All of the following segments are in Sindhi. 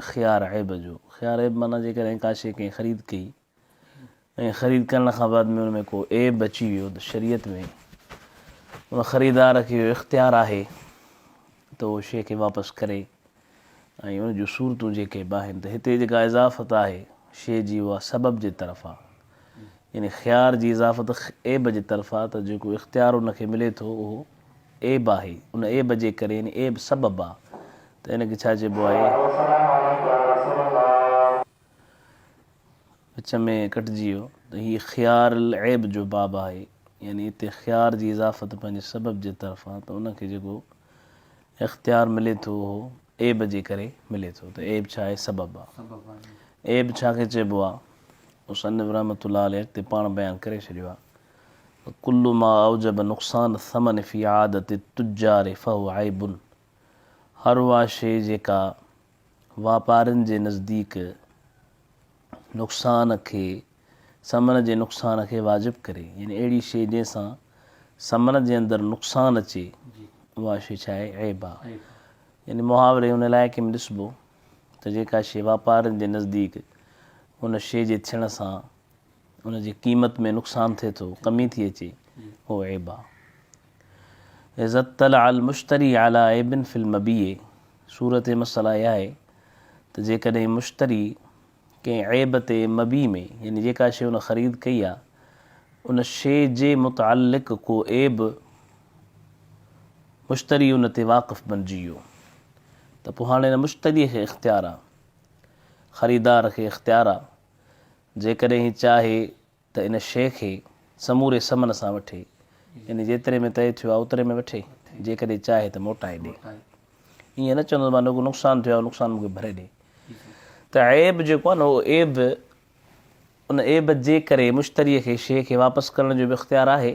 خيار عيب جو خيار عيب معنيٰ جيڪڏهن ڪا شيء ڪنهن خريد ڪئي ۽ خريد ڪرڻ کان بعد ۾ ان ۾ ڪو عيب اچي ويو ته شريعت ۾ ان خريدار کي اهو اختيار آهي ته اهو شيء کي واپس ڪري ۽ ان جون صورتون جيڪي به آهن ته هتي جيڪا اضافت آهي شيء جي اها سبب جي طرف آهي يعني خيار جي اضافت عيب جي طرف آ ته جيڪو اختيار ان کي ملي ٿو اهو عيب آهي ان عيب جي ڪري يعني عيب سبب آ ته ان کي ڇا چئبو آهي. وچ ۾ ڪٽجي ويو ته هي خيار العيب جو باب آهي يعني اتي خيار جي اضافت پنهنجي سبب جي طرف آ ته ان کي جيڪو اختيار ملي ٿو اهو. عيب جي ڪري ملي ٿو ته عيب ڇا آهي سبب آهي عيب ڇا کي چئبو آهي مصنف رحمة الله عليه اڳتي پاڻ بيان ڪري ڇڏيو آهي ڪل ما اوجب نقصان الثمن في عادت التجار فهو عيب هر اها شيء جيڪا واپارين جي نزديڪ نقصان کي سمن جي نقصان کي واجب ڪري يعني اهڙي شيء جنهن سان سمن جي اندر نقصان اچي اها شيء ڇا آهي عيب آهي يعني محاوري ان علائقي ۾ ڏسبو ته جيڪا شيء واپارين جي نزديڪ ان شيء جي ٿيڻ سان ان جي قيمت ۾ نقصان ٿئي ٿو، ڪمي ٿي اچي، اهو عيب آهي. اذا اطلع المشتري علي عيب في المبيع صورت مسئلا اها آهي ته جيڪڏهن مشتري ڪنهن عيب تي مبيع ۾ يعني جيڪا شيء هن خريد ڪئي آهي ان شيء جي متعلق ڪو عيب مشتري ان تي واقف بنجي ويو ته پوء هاڻي نه مشتري کي اختيار آهي خريدار کي اختيار آهي جيڪڏهن هي چاهي ته ان شيء کي سموري ثمن سان وٺي، يعني جيتري ۾ طئي ٿيو آهي اوتري ۾ وٺي، جيڪڏهن چاهي ته موٽائي ڏي. ائين نه چوندس مان نڪو نقصان ٿيو آهي اهو نقصان مون کي ڀري ڏي. ته عيب جيڪو آهي نه اهو عيب ان عيب جي ڪري مشتريء کي شيء کي واپس ڪرڻ جو به اختيار آهي.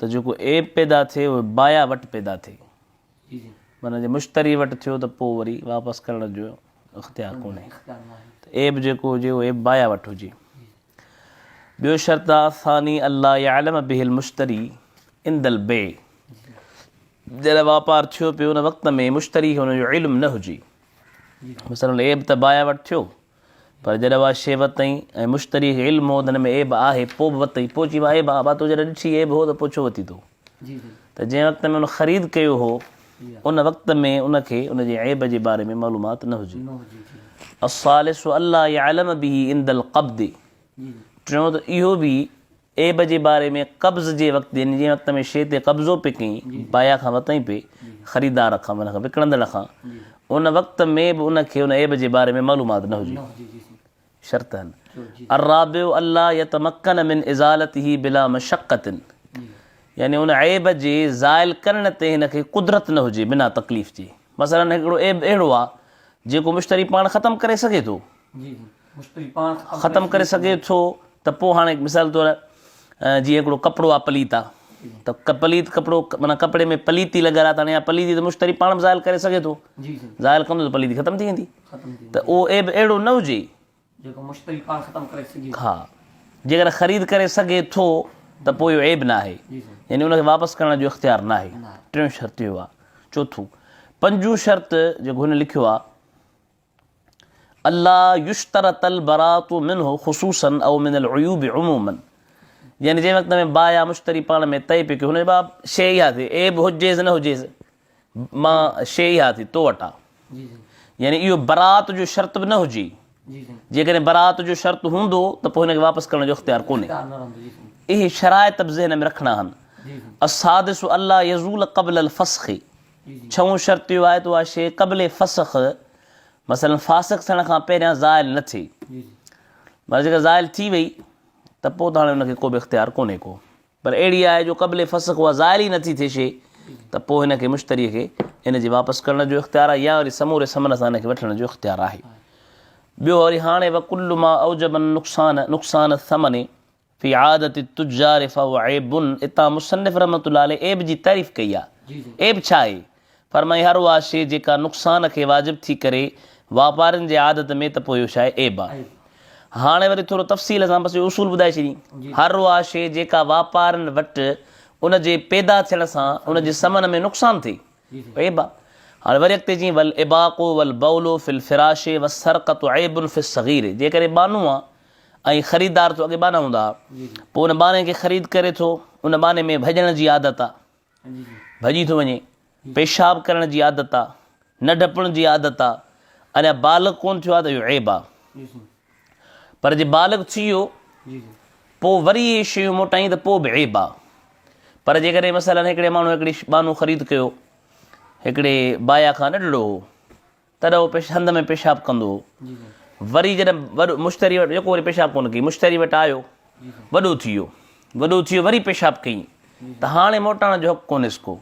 ته جيڪو عيب پيدا ٿئي اهو بايع وٽ پيدا ٿئي معنيٰ جي مشتري وٽ ٿيو ته پوء وري واپس ڪرڻ جو اختيار ڪونهي ته عيب جيڪو هجي اهو عيب بايع وٽ هجي ٻيو شرط آ ثاني الله يعلم به المشتري عند البيع جڏهن واپار ٿيو پيو ان وقت ۾ مشتري کي ان جو علم نه هجي مثلا عيب ته بايع وٽ ٿيو پر جڏهن اها شيء وتئين ۽ مشتري کي علم هو ته هن ۾ عيب آهي پوء به وتئين پوء چيم عيب آهي ڀا تو جڏهن ڏٺي عيب هو ته پوء ڇو وتي تو ته جنهن وقت ۾ ان خريد ڪيو هو ان وقت ۾ ان کي ان جي عيب جي باري ۾ معلومات نه هجي الثالث الا يعلم به عند القبض ٽيون ته اهو به عيب جي باري ۾ قبض جي وقت يعني جنهن وقت ۾ شيء تي قبضو پئي ڪئين بايع کان ورتئين پئي خريدار کان معنيٰ وڪڻندڙ کان ان وقت ۾ به ان کي ان عيب جي باري ۾ معلومات نه هجي شرط هن الرابع الا يتمكن من ازالته بلا مشقت يعني ان عيب جي زائل ڪرڻ تي هن کي قدرت نه هجي بنا تڪليف جي مثلا هڪڙو عيب اهڙو آ جيڪو مشتري پاڻ ختم ڪري سگهي ٿو ختم ڪري سگهي ٿو ته پوء هاڻي هڪ مثال طور جيئن هڪڙو ڪپڙو آ پليت آ ته پليت ڪپڙو معنيٰ ڪپڙي ۾ پليتي لڳل آ ته هاڻي اها پليتي ته مشتري پاڻ به زائل ڪري سگهي ٿو زائل ڪندو ته پليتي ختم ٿي ويندي ته اهو عيب اهڙو نه هجي جيڪو مشتري پاڻ ختم ڪري سگهي ها جيڪڏهن خريد ڪري سگهي ٿو ته پوء اهو عيب ناهي يعني ان کي واپس ڪرڻ جو اختيار ناهي ٽيون شرط اهو آ چوٿون پنجون شرط جيڪو هن لکيو آ الا يشترط البراءة منه خصوصا او من العيوب عموما يعني جنهن وقت ۾ باء يا مشتري پاڻ ۾ طئي پيو ڪيو هن باب شيء اها ٿي عيب هجيس نه هجيس مان شيء اها ٿي تو وٽا يعني اهو برات جو شرط به نه هجي جيڪڏهن برات جو شرط هوندو ته پوء هن کي واپس ڪرڻ جو اختيار ڪونهي اهي شرائط به ذهن ۾ رکڻا آهن السادس الله يزول قبل الفسخ ڇهون شرط اهو آهي ته اها شيء قبل فسخ مثلا فاسق ٿيڻ کان پهريان زائل نه ٿئي مگر جيڪا زائل ٿي وئي ته پوء ته هاڻي ان کي ڪو به اختيار ڪونهي ڪو پر اهڙي آهي جو قبل فسخ اها زائل ئي نٿي ٿئي شيء ته پوء هن کي مشتري کي ان جي واپس ڪرڻ جو اختيار آهي يا وري سموري ثمن سان ان کي وٺڻ جو اختيار آهي ٻيو وري هاڻي وڪل ما اوجب نقصان نقصان ثمن في عادة التجار فهو عيب اتان مصنف رحمة الله عليه عيب جي تعريف ڪئي آهي عيب ڇا آهي؟ فرمائي هر اها شيء جيڪا نقصان کي واجب ٿي ڪري واپارين جي عادت ۾ ته پوء اهو ڇا آهي عيب آهي هاڻي وري ٿورو تفصيل سان بس اهو اصول ٻڌائي ڇڏين هر اها شيء جيڪا واپارين وٽ ان جي پيدا ٿيڻ سان ان جي سمن ۾ نقصان ٿئي عيب آهي هاڻي وري اڳتي چين ول اباقو ول بولو فل فراشي و سرقت عيب فل صغيري جيڪڏهن بانو آ ۽ خريدار تو اڳي ٻانها هوندا پوء ان ٻانهي کي خريد ڪري ٿو ان ٻانهي ۾ ڀڄڻ جي عادت آ ڀڄي ٿو وڃي پيشاب ڪرڻ جي عادت آ نه ڊپڻ جي عادت آ اڃا بالغ ڪون ٿيو آ ته اهو عيب آ پر جي بالغ ٿي ويو پوء وري اهي شيون موٽائين ته پوء به عيب آ پر جيڪڏهن مثلا هڪڙي ماڻهو هڪڙي ٻانهو خريد ڪيو هڪڙي بايا کان ننڍڙو هو تڏهن هو پيش هنڌ ۾ پيشاب ڪندو هو. وري جڏهن وڏو مشتري وٽ يڪو وري پيشاب ڪونه ڪيئي مشتري وٽ آيو وڏو ٿي ويو وڏو ٿي ويو وري پيشاب ڪيئي ته هاڻي موٽائڻ جو حق ڪونهيس ڪو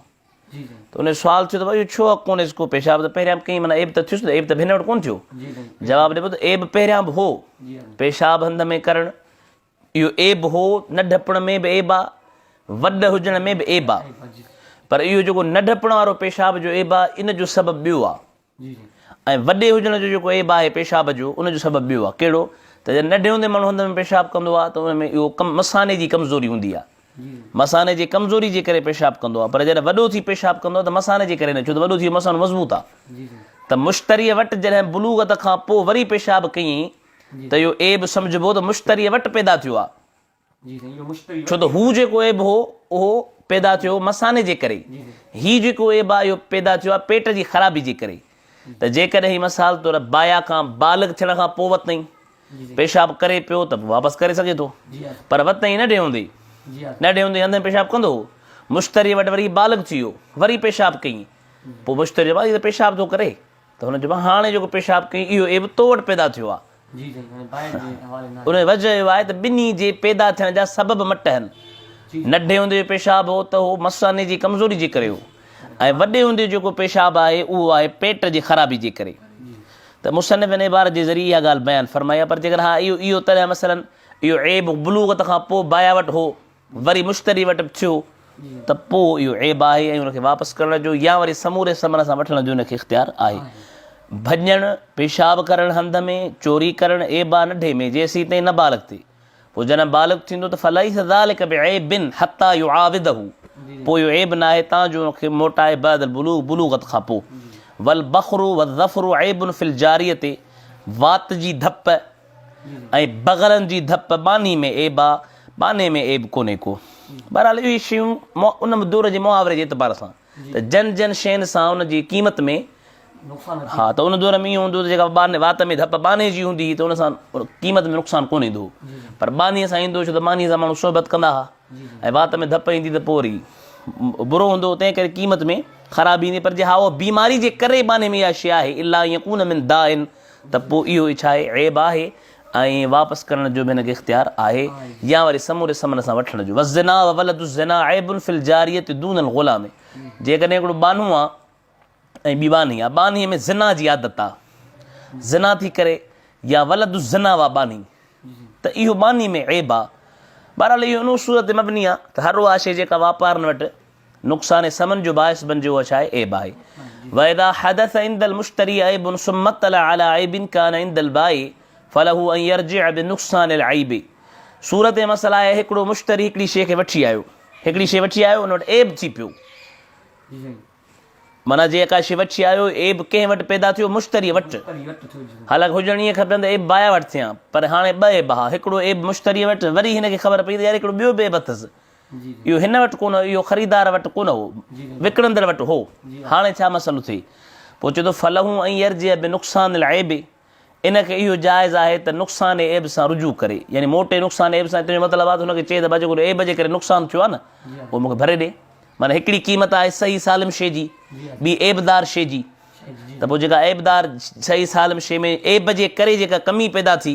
ته ان جو سوال ٿيو ته اهو ڇو حق ڪونهيس ڪو پيشاب ته پهريان به ڪيئي معنيٰ عيب ته ٿيس نه عيب ته هن وٽ ڪونه ٿيو جواب ڏبو ته عيب پهريان به هو پيشاب هنڌ ۾ ڪرڻ اهو عيب هو، نه ڊپڻ ۾ به عيب آ، وڏ هجڻ ۾ به عيب آ، پر اهو جيڪو نه ڊپڻ وارو پيشاب جو عيب آ، ان جو سبب ٻيو آ ۽ وڏي هجڻ جو جيڪو عيب آهي پيشاب جو، ان جو سبب ٻيو آ، ڪهڙو؟ ته جڏهن ننڍي هوندي ماڻهو هنڌ ۾ پيشاب ڪندو آ ته ان ۾ اهو مثاني جي ڪمزوري هوندي آ، مثاني جي ڪمزوري جي ڪري پيشاب ڪندو آ، پر جڏهن وڏو ٿي پيشاب ڪندو آ ته مثاني جي ڪري نه، ڇو ته وڏو ٿي ويو مثانو مضبوط آ. ته مشتريء وٽ جڏهن بلوغت کان پوء وري پيشاب ڪيئين ته اهو عيب سمجهبو ته مشتريء وٽ پيدا ٿيو آهي، ڇو ته هو جيڪو عيب هو، اهو پيدا ٿيو هو مثاني جي ڪري، هي جيڪو عيب آهي، اهو پيدا ٿيو آهي پيٽ جي خرابي جي ڪري، ته جيڪڏهن هي مثال طور بايا کان بالغ ٿيڻ کان پوء وتنهين پيشاب ڪري پيو ته پوء واپس ڪري سگهي ٿو، پر وتنهين نه ڊيهوندي، نه ڊيهوندي هنڌين پيشاب ڪندو هو، مشتريء وٽ وري هي بالغ ٿي ويو، وري پيشاب ڪيئين، پوء مشتري چيو، هي ته پيشاب ٿو ڪري، ته هن چيو مان هاڻي جيڪو پيشاب ڪيئي اهو عيب تو وٽ پيدا ٿيو آهي. ان جو وجهه اهو آهي ته ٻني جي پيدا ٿيڻ جا سبب مٽهن. نڍي هوندي جو پيشاب هو ته اهو مثاني جي ڪمزوري جي ڪري هو ۽ وڏي هوندي جو جيڪو پيشاب آهي اهو آهي پيٽ جي خرابي جي ڪري. ته مصنف هن عبارت جي ذريعي اها ڳالهه بيان فرمائي آهي پر جيڪڏهن ها اهو اهو تڏهن مثلا اهو عيب بلوغت کان پوء بايا وٽ هو وري مشتري وٽ به ٿيو ته پوء اهو عيب آهي ۽ ان کي واپس ڪرڻ جو يا وري سموري ثمن سان وٺڻ جو ان کي اختيار آهي. ڀڃڻ، پيشاب ڪرڻ هنڌ ۾، چوري ڪرڻ، عيب آهي نڍي ۾ جيسيتائين نه بالغ ٿئي. پوء جڏهن بالغ ٿيندو ته فليس ذلک بعيب حتي يعاوده پوء اهو عيب نه آهي تان جو ان کي موٽائي بعد البلوغ بلوغت کان پوء. والبخر والظفر عيب في الجاريه وات جي ڌپ، ۽ بغلن جي ڌپ ٻانهي ۾ عيب آ، ٻانهي ۾ عيب ڪونهي ڪو. بهرحال اهي شيون ان دور جي محاوري جي اعتبار سان ته جن جن شين سان ان جي قيمت ۾ ها ته ان دور ۾ ائين هوندو هو ته جيڪا ٻانهي وات ۾ ڌپ ٻانهي جي هوندي هئي ته ان سان قيمت ۾ نقصان ڪونه ايندو هو پر ٻانهي سان ايندو هو ڇو ته ٻانهي سان ماڻهو صحبت ڪندا ها ۽ وات ۾ ڌپ ايندي ته پوء وري برو هوندو هو تنهن ڪري قيمت ۾ خرابي ايندي پر جي ها اها بيماري جي ڪري ٻانهي ۾ اها شيء آهي الا يڪون من دائن ته پوء اهو ئي ڇا آهي؟ عيب آهي ۽ واپس ڪرڻ جو به هن کي اختيار آهي يا وري سموري سمن سان وٺڻ جو. والزنا وولد الزنا عيب في الجاريه دون الغلام جيڪڏهن هڪڙو ٻانهو آ ۽ ٻي ٻانهي آ، ٻانهي ۾ زنا جي عادت آ، زنا ٿي ڪري يا ولد الزنا اها ٻانهي ته اهو ٻانهي ۾ عيب آ. بهرحال اهو ان اصول تي مبني آ ته هر اها شيء جيڪا واپارن وٽ نقصان ثمن جو باعث بنجيو اڇا اي اي بائي واذا حدث عند المشتري عيب ثم اطلع على عيب كان عند البائي فله ان يرجع بنقصان العيب صورت مسئله آهي هڪڙو مشتري هڪڙي شي کي وٺي آيو هڪڙي شي وٺي آيو ان وٽ عيب ٿي پيو مانا جي اڪا شي وٺي آيو عيب ڪنهن وٽ پيدا ٿيو مشتري وٽ حالانڪ هجڻ ائين کپن ته عيب بايا وٽ ٿيان پر هاڻي ٻه عيب ها هڪڙو عيب مشتري وٽ وري هن کي خبر پئي ته يار هڪڙو ٻيو به عيب اٿس اهو هن وٽ ڪونه هو، اهو خريدار وٽ ڪونه هو، وڪڻندڙ وٽ هو. هاڻي ڇا مسئلو ٿئي؟ پوء چئي ٿو، فله ان يرجع بنقصان العيب، ان کي اهو جائز آهي ته نقصان عيب سان رجوع ڪري، يعني موٽي نقصان عيب سان، اتي جو مطلب آهي ته هن کي چئي ته ڀاء جيڪو عيب جي ڪري نقصان ٿيو آهي نه، اهو مون کي ڀري ڏي. معنيٰ هڪڙي قيمت آهي صحيح سالم شيء جي، ٻي عيبدار شيء جي، ته پوء جيڪا عيبدار صحيح سالم شيء ۾ عيب جي ڪري جيڪا ڪمي پيدا ٿي،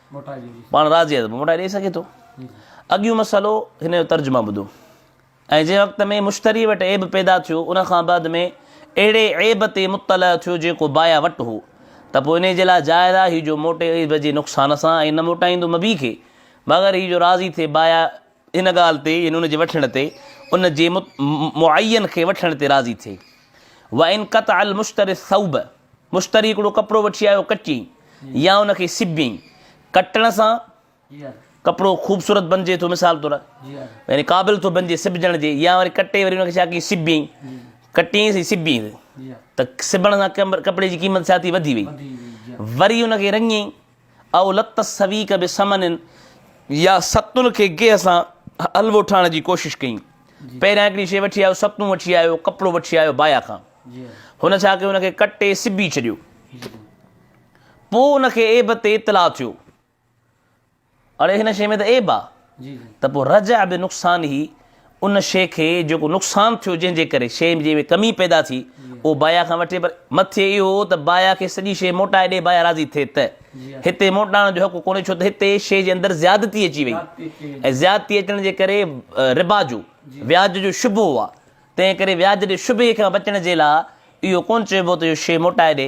پاڻ راضي آهي ته پوء موٽائي ڏئي سگهي ٿو. اڳيون مسئلو هن جو ترجمه ٻڌو ۽ جنهن وقت ۾ مشتري وٽ عيب پيدا ٿيو ان کان بعد ۾ اهڙي عيب تي مطلع ٿيو جيڪو بايع وٽ هو ته پوء انهي جي لاء جائز آهي هي جو موٽي عيب جي نقصان سان ۽ نه موٽائيندو مبيع کي مگر هي جو راضي ٿئي بايع ان ڳالهه تي يعني ان جي وٺڻ تي ان جي معين کي وٺڻ تي راضي ٿئي وان قطع المشتري الثوب مشتري هڪڙو ڪپڙو وٺي آيو ڪٽي يا ان کي سبي ڪٽڻ سان ڪپڙو خوبصورت بنجي ٿو مثال طور يعني قابل ٿو بنجي سبجڻ جي يا وري ڪٽي وري ان کي ڇا ڪي سبي ڪٽي سي سبي ته سبڻ سان ڪپڙي جي قيمت ڇا ٿي وڌي وئي وري ان کي رنگي او لت السويق بثمن يا ستون کي گيهه سان حلوو ٺاهڻ جي ڪوشش ڪئي. پهريان هڪڙي شيء وٺي آيو، ستون وٺي آيو، ڪپڙو وٺي آيو بايا کان. هن ڇا ڪيو ان کي ڪٽي سبي ڇڏيو. پوء ان کي عيب تي اطلاع ٿيو. اڙي هن شيء ۾ ته عيب آ ته پوء رجع بنقصانه ان شيء کي جيڪو نقصان ٿيو جنهن جي ڪري شيء جنهن ۾ ڪمي پيدا ٿي اهو بايع کان وٺي پر مٿي اهو هو ته بايع کي سڄي شيء موٽائي ڏي بايع راضي ٿئي ته هتي موٽائڻ جو حق ڪونهي ڇو ته هتي شيء جي اندر زيادتي اچي وئي ۽ زيادتي اچڻ جي ڪري ربا جو وياج جو شبهو آ تنهن ڪري وياج جي شبهي کان بچڻ جي لاء اهو ڪونه چئبو ته اهو شيء موٽائي ڏي